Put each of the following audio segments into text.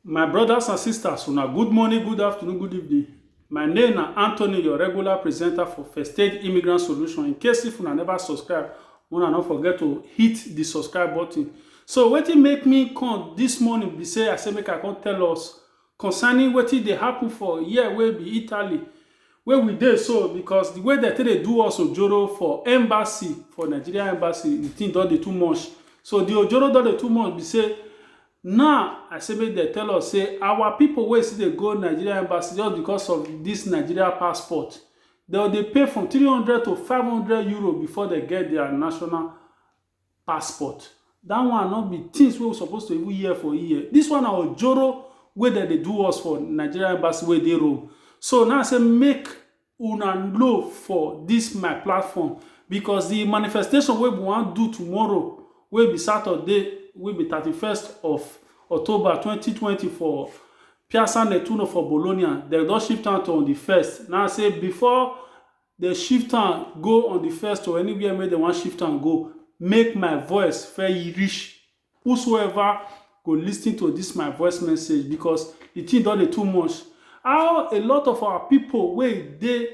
My brothers and sisters, una good morning, good afternoon, good evening. My name na Anthony, your regular presenter for First Aid Immigrant Solution. In case if una never subscribe, una no forget to hit the subscribe button. So wetin make me come this morning be say I say make I come tell us concerning wetin dey happen for here wey be Italy wey we dey so because the way dem take dey do us ojoro for embassy for Nigeria embassy the thing don dey too much so the ojoro don dey too much be say now I say make dem tell us say our people wey still dey go Nigeria embassy just because of this Nigeria passport dem go dey pay from three hundred to five hundred euro before dem get their national passport that one no be things wey we suppose to even hear for here this one na ojoro wey dem dey do us for nigeria embassy wey dey rome so now i say make una know for this my platform because the manifestation wey we wan do tomorrow wey be saturday wey be thirty-first of october twenty twenty for piazza nettuno for bologna dem don shift am to on the first now i say before Dem shift am go on di first or anywhere wey dem wan shift am go, make my voice fir rish whosoever go listin to dis my voice message bicos di tin don dey too much. How a lot of our pipo wey dey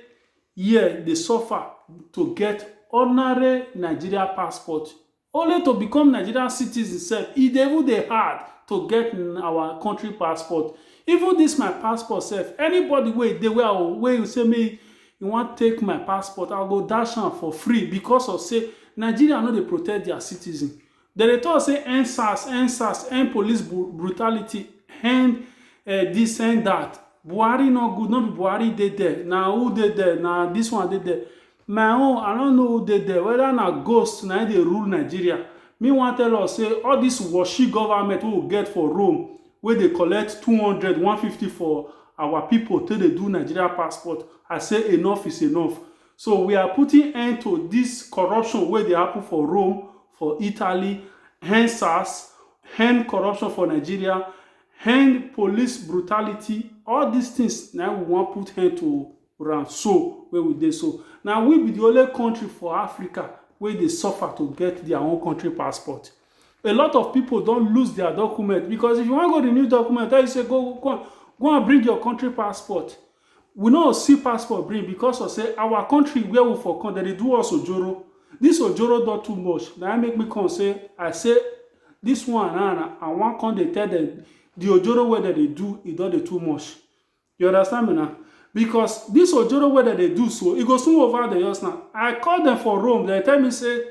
here dey suffer to get ordinary Nigeria passport Only to become Nigerian citizen sef e dey even dey hard to get our country passport even this my passport sef anybody wey e dey wey I go wey e say make e wan take my passport I go dash am for free because of say Nigeria no dey protect their citizen dem dey talk say end sars end sars end police brutality end this end that Buhari no good no be Buhari dey there na who dey there na this one dey there My own I no know who dey there whether na ghost na im dey rule Nigeria me wan tell us say all this washi government wey we get for Rome wey dey collect two hundred, one hundred and fifty for our people take dey do Nigeria passport I say enough is enough so we are putting end to this corruption wey dey happen for Rome for Italy end sars end corruption for Nigeria end police brutality all this things na im we wan put end to ran so wey we dey so na we be the only country for africa wey dey suffer to get their own country passport a lot of people don lose their document because if you wan go renew document tell you say go go go and bring your country passport we no see passport bring because of say our country where we for come dem dey do us ojoro this ojoro don too much na im make me come say i say this one na na i wan come dey tell them the ojoro wey dem dey do e don dey too much You understand me now? Because this ojoro wey dem dey do so, e go soon over the years now. I call them for Rome, they tell me say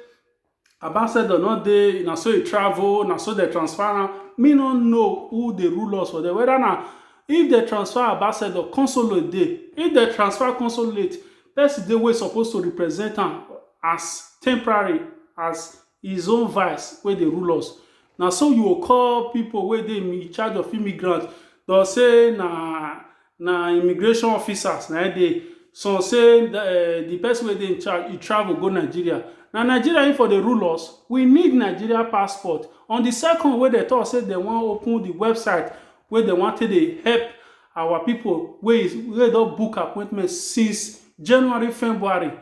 ambassador no dey, na so e travel, na so they transfer am. Me no know who dey rule us for there, whether na if they transfer ambassador, consulate dey. If they transfer consulate, person dey wey suppose to represent am as temporary, as His own vice wey dey rule us. Na so you go call people wey dey in charge of immigrant. Dey go say na na immigration officers na im dey. Some say um the person wey dey in charge, e travel go Nigeria. Na Nigeria im for dey rule us? We need Nigeria passport. On the second wey dey talk say dey wan open the website wey dey wan take dey help our people wey wey don book appointment since January, February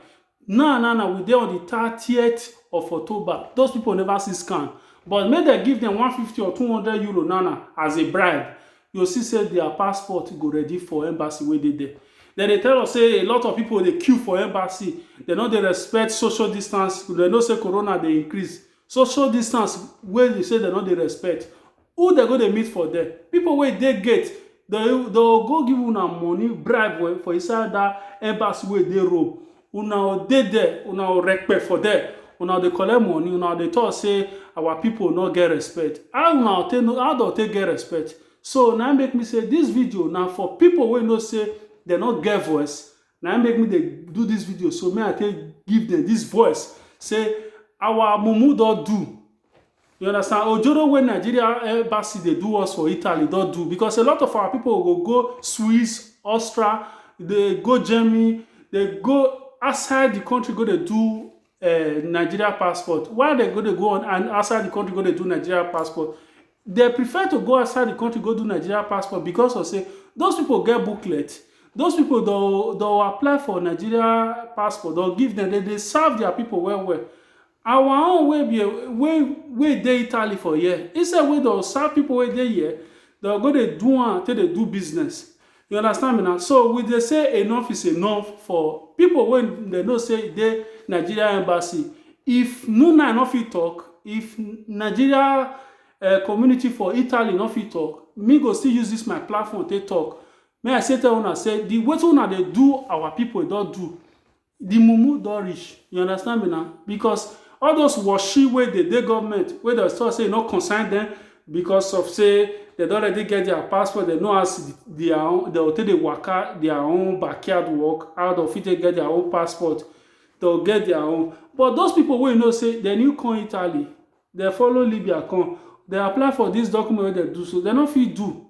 Now now now we dey on di thirtieth of October, those pipo neva see scan but make dem give dem one fifty or two hundred euro now now as a bribe, you go see say dia passport go ready for embassy wey dey there. Dem dey tell us say a lot of pipo dey queue for embassy, dem no dey respect social distance, dem know say corona dey increase. Social distance wey be say dem no dey respect, Who dem go dey meet for there? People wey dey gate, dem dem go go give una money, bribe for inside that embassy wey dey Rome. Una go dey there, una go rekpe for there. Una go dey collect money, una go dey talk say our people no get respect. How una go take know, how dem go take get respect? So, na im make me say this video na for people wey know say dem no get voice. Na im make me dey do this video so, make I take give dem this voice say our mumu don do. You understand? Ojoro wey Nigeria embassy dey do us for Italy don do because a lot of our people go go Swiss, Austria, dey go Germany, dey go outside the country go dey do uh, Nigeria passport. Why they go dey go on and outside the country go dey do Nigeria passport? They prefer to go outside the country go do Nigeria passport because of say those people get booklet. Those people don don apply for Nigeria passport, don give them, they dey serve their people well well. Our own wey be wey wey dey Italy for here, instead wey dem go serve pipu wey dey here, dem go go dey do am take dey do business. You understand me na. So, we dey say enough is enough for pipu wey dem know sey e dey Nigeria Embassy. If NUNNAI no fit talk, if Nigeria um community for Italy no fit talk, me go still use dis my platform take talk. Make I still tell una sey de wetin una dey do our pipu, e don do. the mumu don reach you understand me now because all those washi wey dey dey government wey dem talk say e no concern dem because of say dem don already get their passport dem know as their own dem go take dey waka their own backyard work how dem fit take get their own passport dem go get their own but those people wey you know say dem new come Italy dem follow Libya come dem apply for this document wey dem do so dem no fit do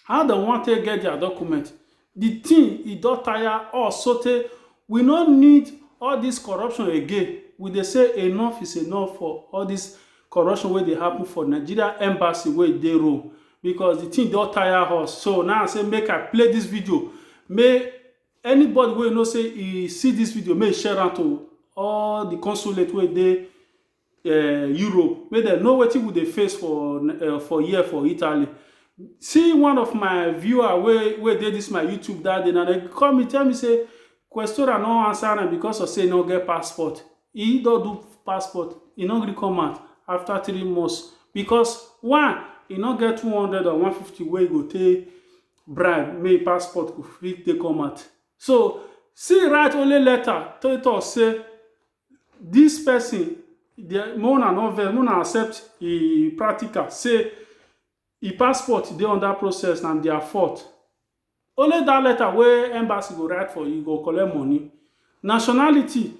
How dem wan take get their document? The thing e don tire us so tey we no need all this corruption again. We dey say enough is enough for all this corruption wey dey happen for Nigeria embassy wey e dey Rome because the thing don tire us. So na I say make I play this video make anybody wey e know say e see this video make e share am to all the consulate wey e dey um Europe make dem know wetin we dey face for um for here for Italy. See one of my viewer wey wey dey this my YouTube that day na dem call me tell me say Questora no answer am because of say e no get passport. He don do passport, e no gree come out after three months because one, e no get two hundred or one fifty wey e go take bribe make e passport go fit take come out. So, see write only letter take talk say Dis person make una no vex, make una accept e practical sey e passport dey under process na their fault. Only dat letter wey embassy go write for you, you go collect money. Nationality,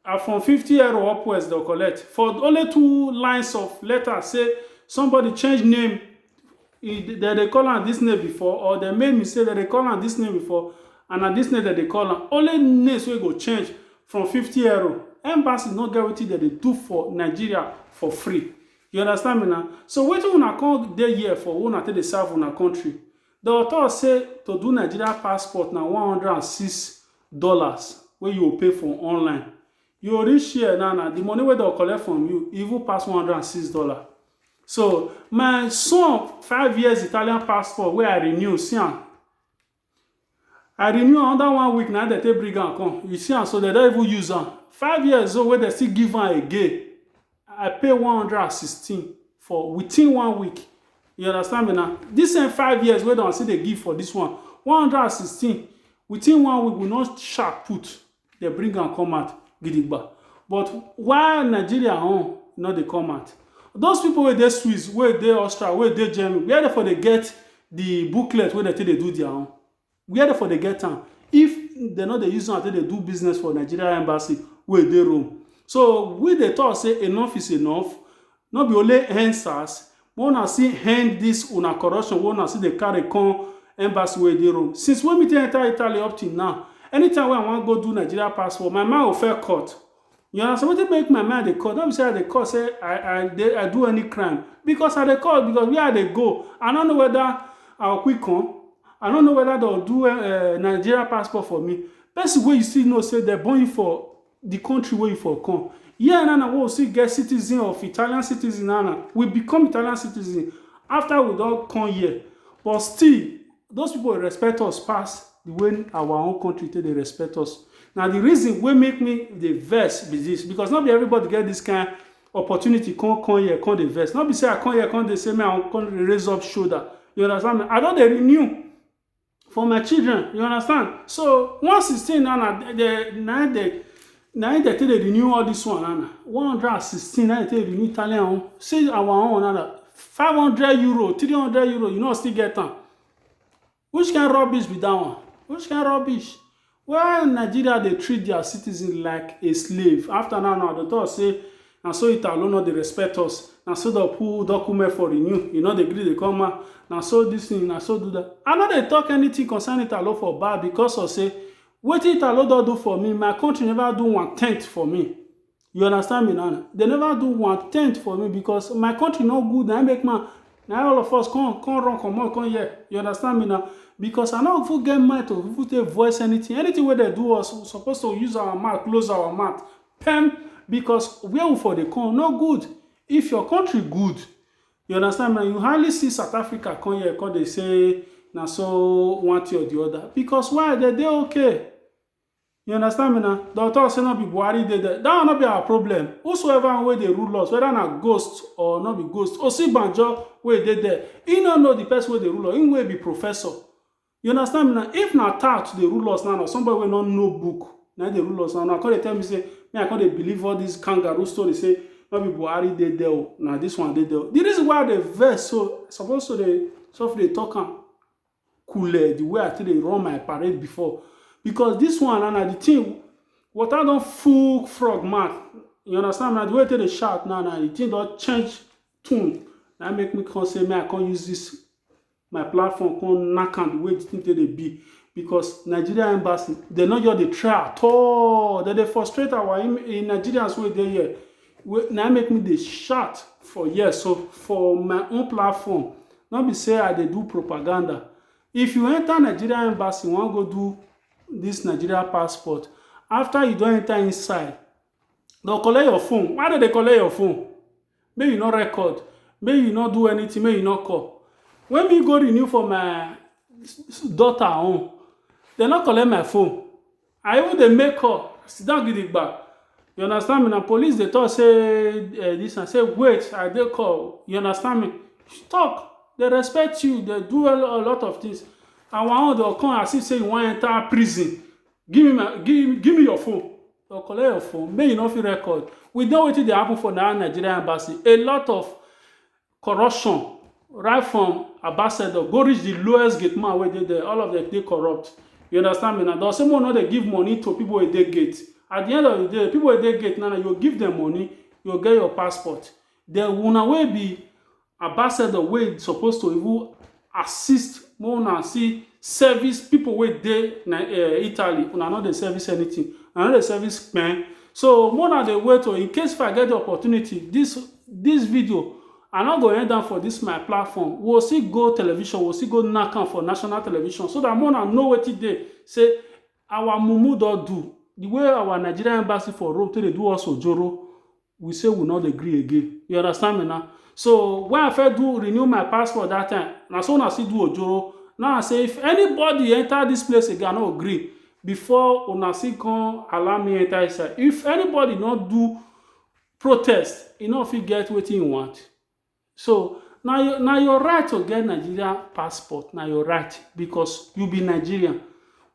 na from fifty euro upwards dem go collect for only two lines of letter sey somebody change name e dey dem dey call am this name before or dem make mistake dem dey call am this name before and na this name dem dey call am only names wey go change from fifty euro embassy no get wetin dem dey do for nigeria for free you understand me na so wetin una come dey here for wey una take dey serve una country dem talk say to do nigeria passport na one hundred and six dollars wey you go pay for online you go reach here now na the money wey dem go collect from you even pass one hundred and six dollars So my son five years Italian passport wey I renew see am. I renew another one week na dem take bring am come. You see am so dem don even use am. Five years old wey dem still give am again. I pay one hundred and sixteen for within one week. You understand me now? This same five years wey dem still dey give for this one, one hundred and sixteen within one week we no sha put. They bring am come out gidigba. But why Nigeria own no dey come out? Those people wey dey Swiss, wey dey Austria, wey dey Germany, where they for dey get the booklet wey they take dey do their own? Where they for dey get am? If they no dey use am take dey do business for Nigeria embassy wey dey Rome. So we dey talk say enough is enough. No be only EndSars, make una still end this una corruption wey una still dey carry come embassy wey dey Rome. Since wey me take enter Italy up till now, anytime wey I wan go do Nigeria passport, my mind go first cut. You understand? Wetin make my mind dey cut? No be say I dey cut say I I dey I do any crime. Because I dey cut because where I dey go, I no know whether I go quick come. I no know whether dem go do um Nigeria passport for me. Person wey you still know say dem born you for di kontri wey you for come here na na wey we still get citizen of Italian citizen na na we become Italian citizen after we don come here but still those people dey respect us pass di way our own kontri take dey respect us na di reason wey make me dey vex be dis because no be everybody get dis kind opportunity come come here come dey vex no be say I come here come dey say make I come raise up shoulder you understand me I don dey renew for my children you understand so one sixteen na na the na the na im dey take dey renew all this one na one hundred and sixteen na im dey take renew italian own see our own na five hundred euro three hundred euro you no still get am which kind rubbish be that one which kind rubbish Well Nigeria dey treat their citizens like a slave after now now dey talk say na so Italo no dey respect us na so dey put document for renew e no dey gree dey come out na so this thing na so do that I no dey talk anything concern Italo for bad because of say wetin Italo don do for me my country never do one tenth for me You understand me now? They never do one tenth for me because my country no good. I make man. Now all of us come, come run, come on, come here. You understand me now? Because I no even get mind to even take voice anything. Anything where they do us, we supposed to use our mouth, close our mouth. Pem, because where we for the come, no good. If your country good, you understand me? You hardly see South Africa come here, come they say, now so one thing or the other. Because why? They, they okay. You understand me now? Don talk say no be Buhari dey there. That one no be our problem. Whosoever wey dey rule us, whether na ghost or no be ghost, Osinbajo wey dey there, he no know the person wey dey rule us. Him wey be professor. You understand me now? If na tout dey rule us now, or somebody wey no know book, na him dey rule us now. Una come dey tell me say, me I come dey believe all this kangaroo story say no be Buhari dey there o, na this one dey there o. The reason why I dey vex so, I suppose to dey sofri dey talk am. coole the way I take dey run my parade before because this one na na the thing water don full frog mouth you understand na the way I take dey shout now na the thing don change tune na make me come say make I come use this my platform come knack am the way the thing take dey be because Nigeria embassy dem no just dey try at all dem dey frustrate our im- Nigerians wey dey here wey na im make me dey shout for here so for my own platform no be say i dey do propaganda if you enter nigeria embassy you wan go do this nigeria passport after you don enter inside dem collect your phone why dem dey collect your phone make you no record make you no do anything make you no call when me go renew for my daughter own dem no collect my phone I even dey make up, sit down gidigba. You understand me? Na police dey talk say eh, this and say wait, I dey call. You understand me? Talk. They respect you. They do a lo- a lot of things. And one of them come as if say you wan enter prison. Give me my, give, give me your phone. Or collect your phone. Make you no fit record. We know wetin dey happen for that Nigerian embassy. A lot of Corruption right from ambassador go reach the lowest gate man wey dey there all of them dey corrupt you understand me na dem say make we no dey give money to people wey dey gate at the end of the day people wey dey gate now na you go give them money you go get your passport then una wey be ambassador wey suppose to even assist make una see service people wey dey na eh, Italy una no dey service anything una no dey service kpen so make una dey wait o in case if I get the opportunity this this video I no go end am for this my platform we we'll still go television we we'll still go knack am for national television so that make una know wetin dey say our mumu don do the way our Nigerian embassy for Rome take dey do us ojoro we say we no dey gree again you understand me na so when I first do renew my passport that time na so una still do ojoro now I say if anybody enter this place again I no go gree before una still come allow me enter inside if anybody no do protest e no fit get wetin e want So na your na your right to get Nigeria passport, na your right because you be Nigerian.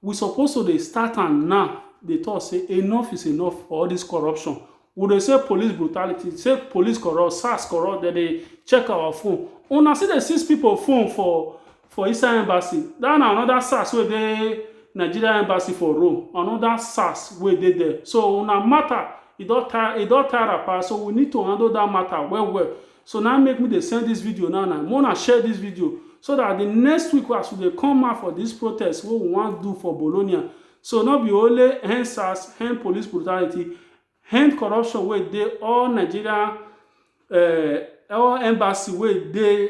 We suppose to dey start am now dey talk say enough is enough for all this corruption. We dey say police brutality, say police corrupt, SARS corrupt, dem dey check our phone. Una still dey seize people phone for for inside embassy dat na anoda sars wey dey nigeria embassy for rome anoda sars wey dey there so una mata e don tire e don tire wrapper so we need to handle dat mata well well so na im make me dey send dis video now na make una share dis video so dat di next week as we dey come out for dis protest wey we wan do for bologna so no be only end sars end police brutality end corruption wey dey all nigeria all embassy wey dey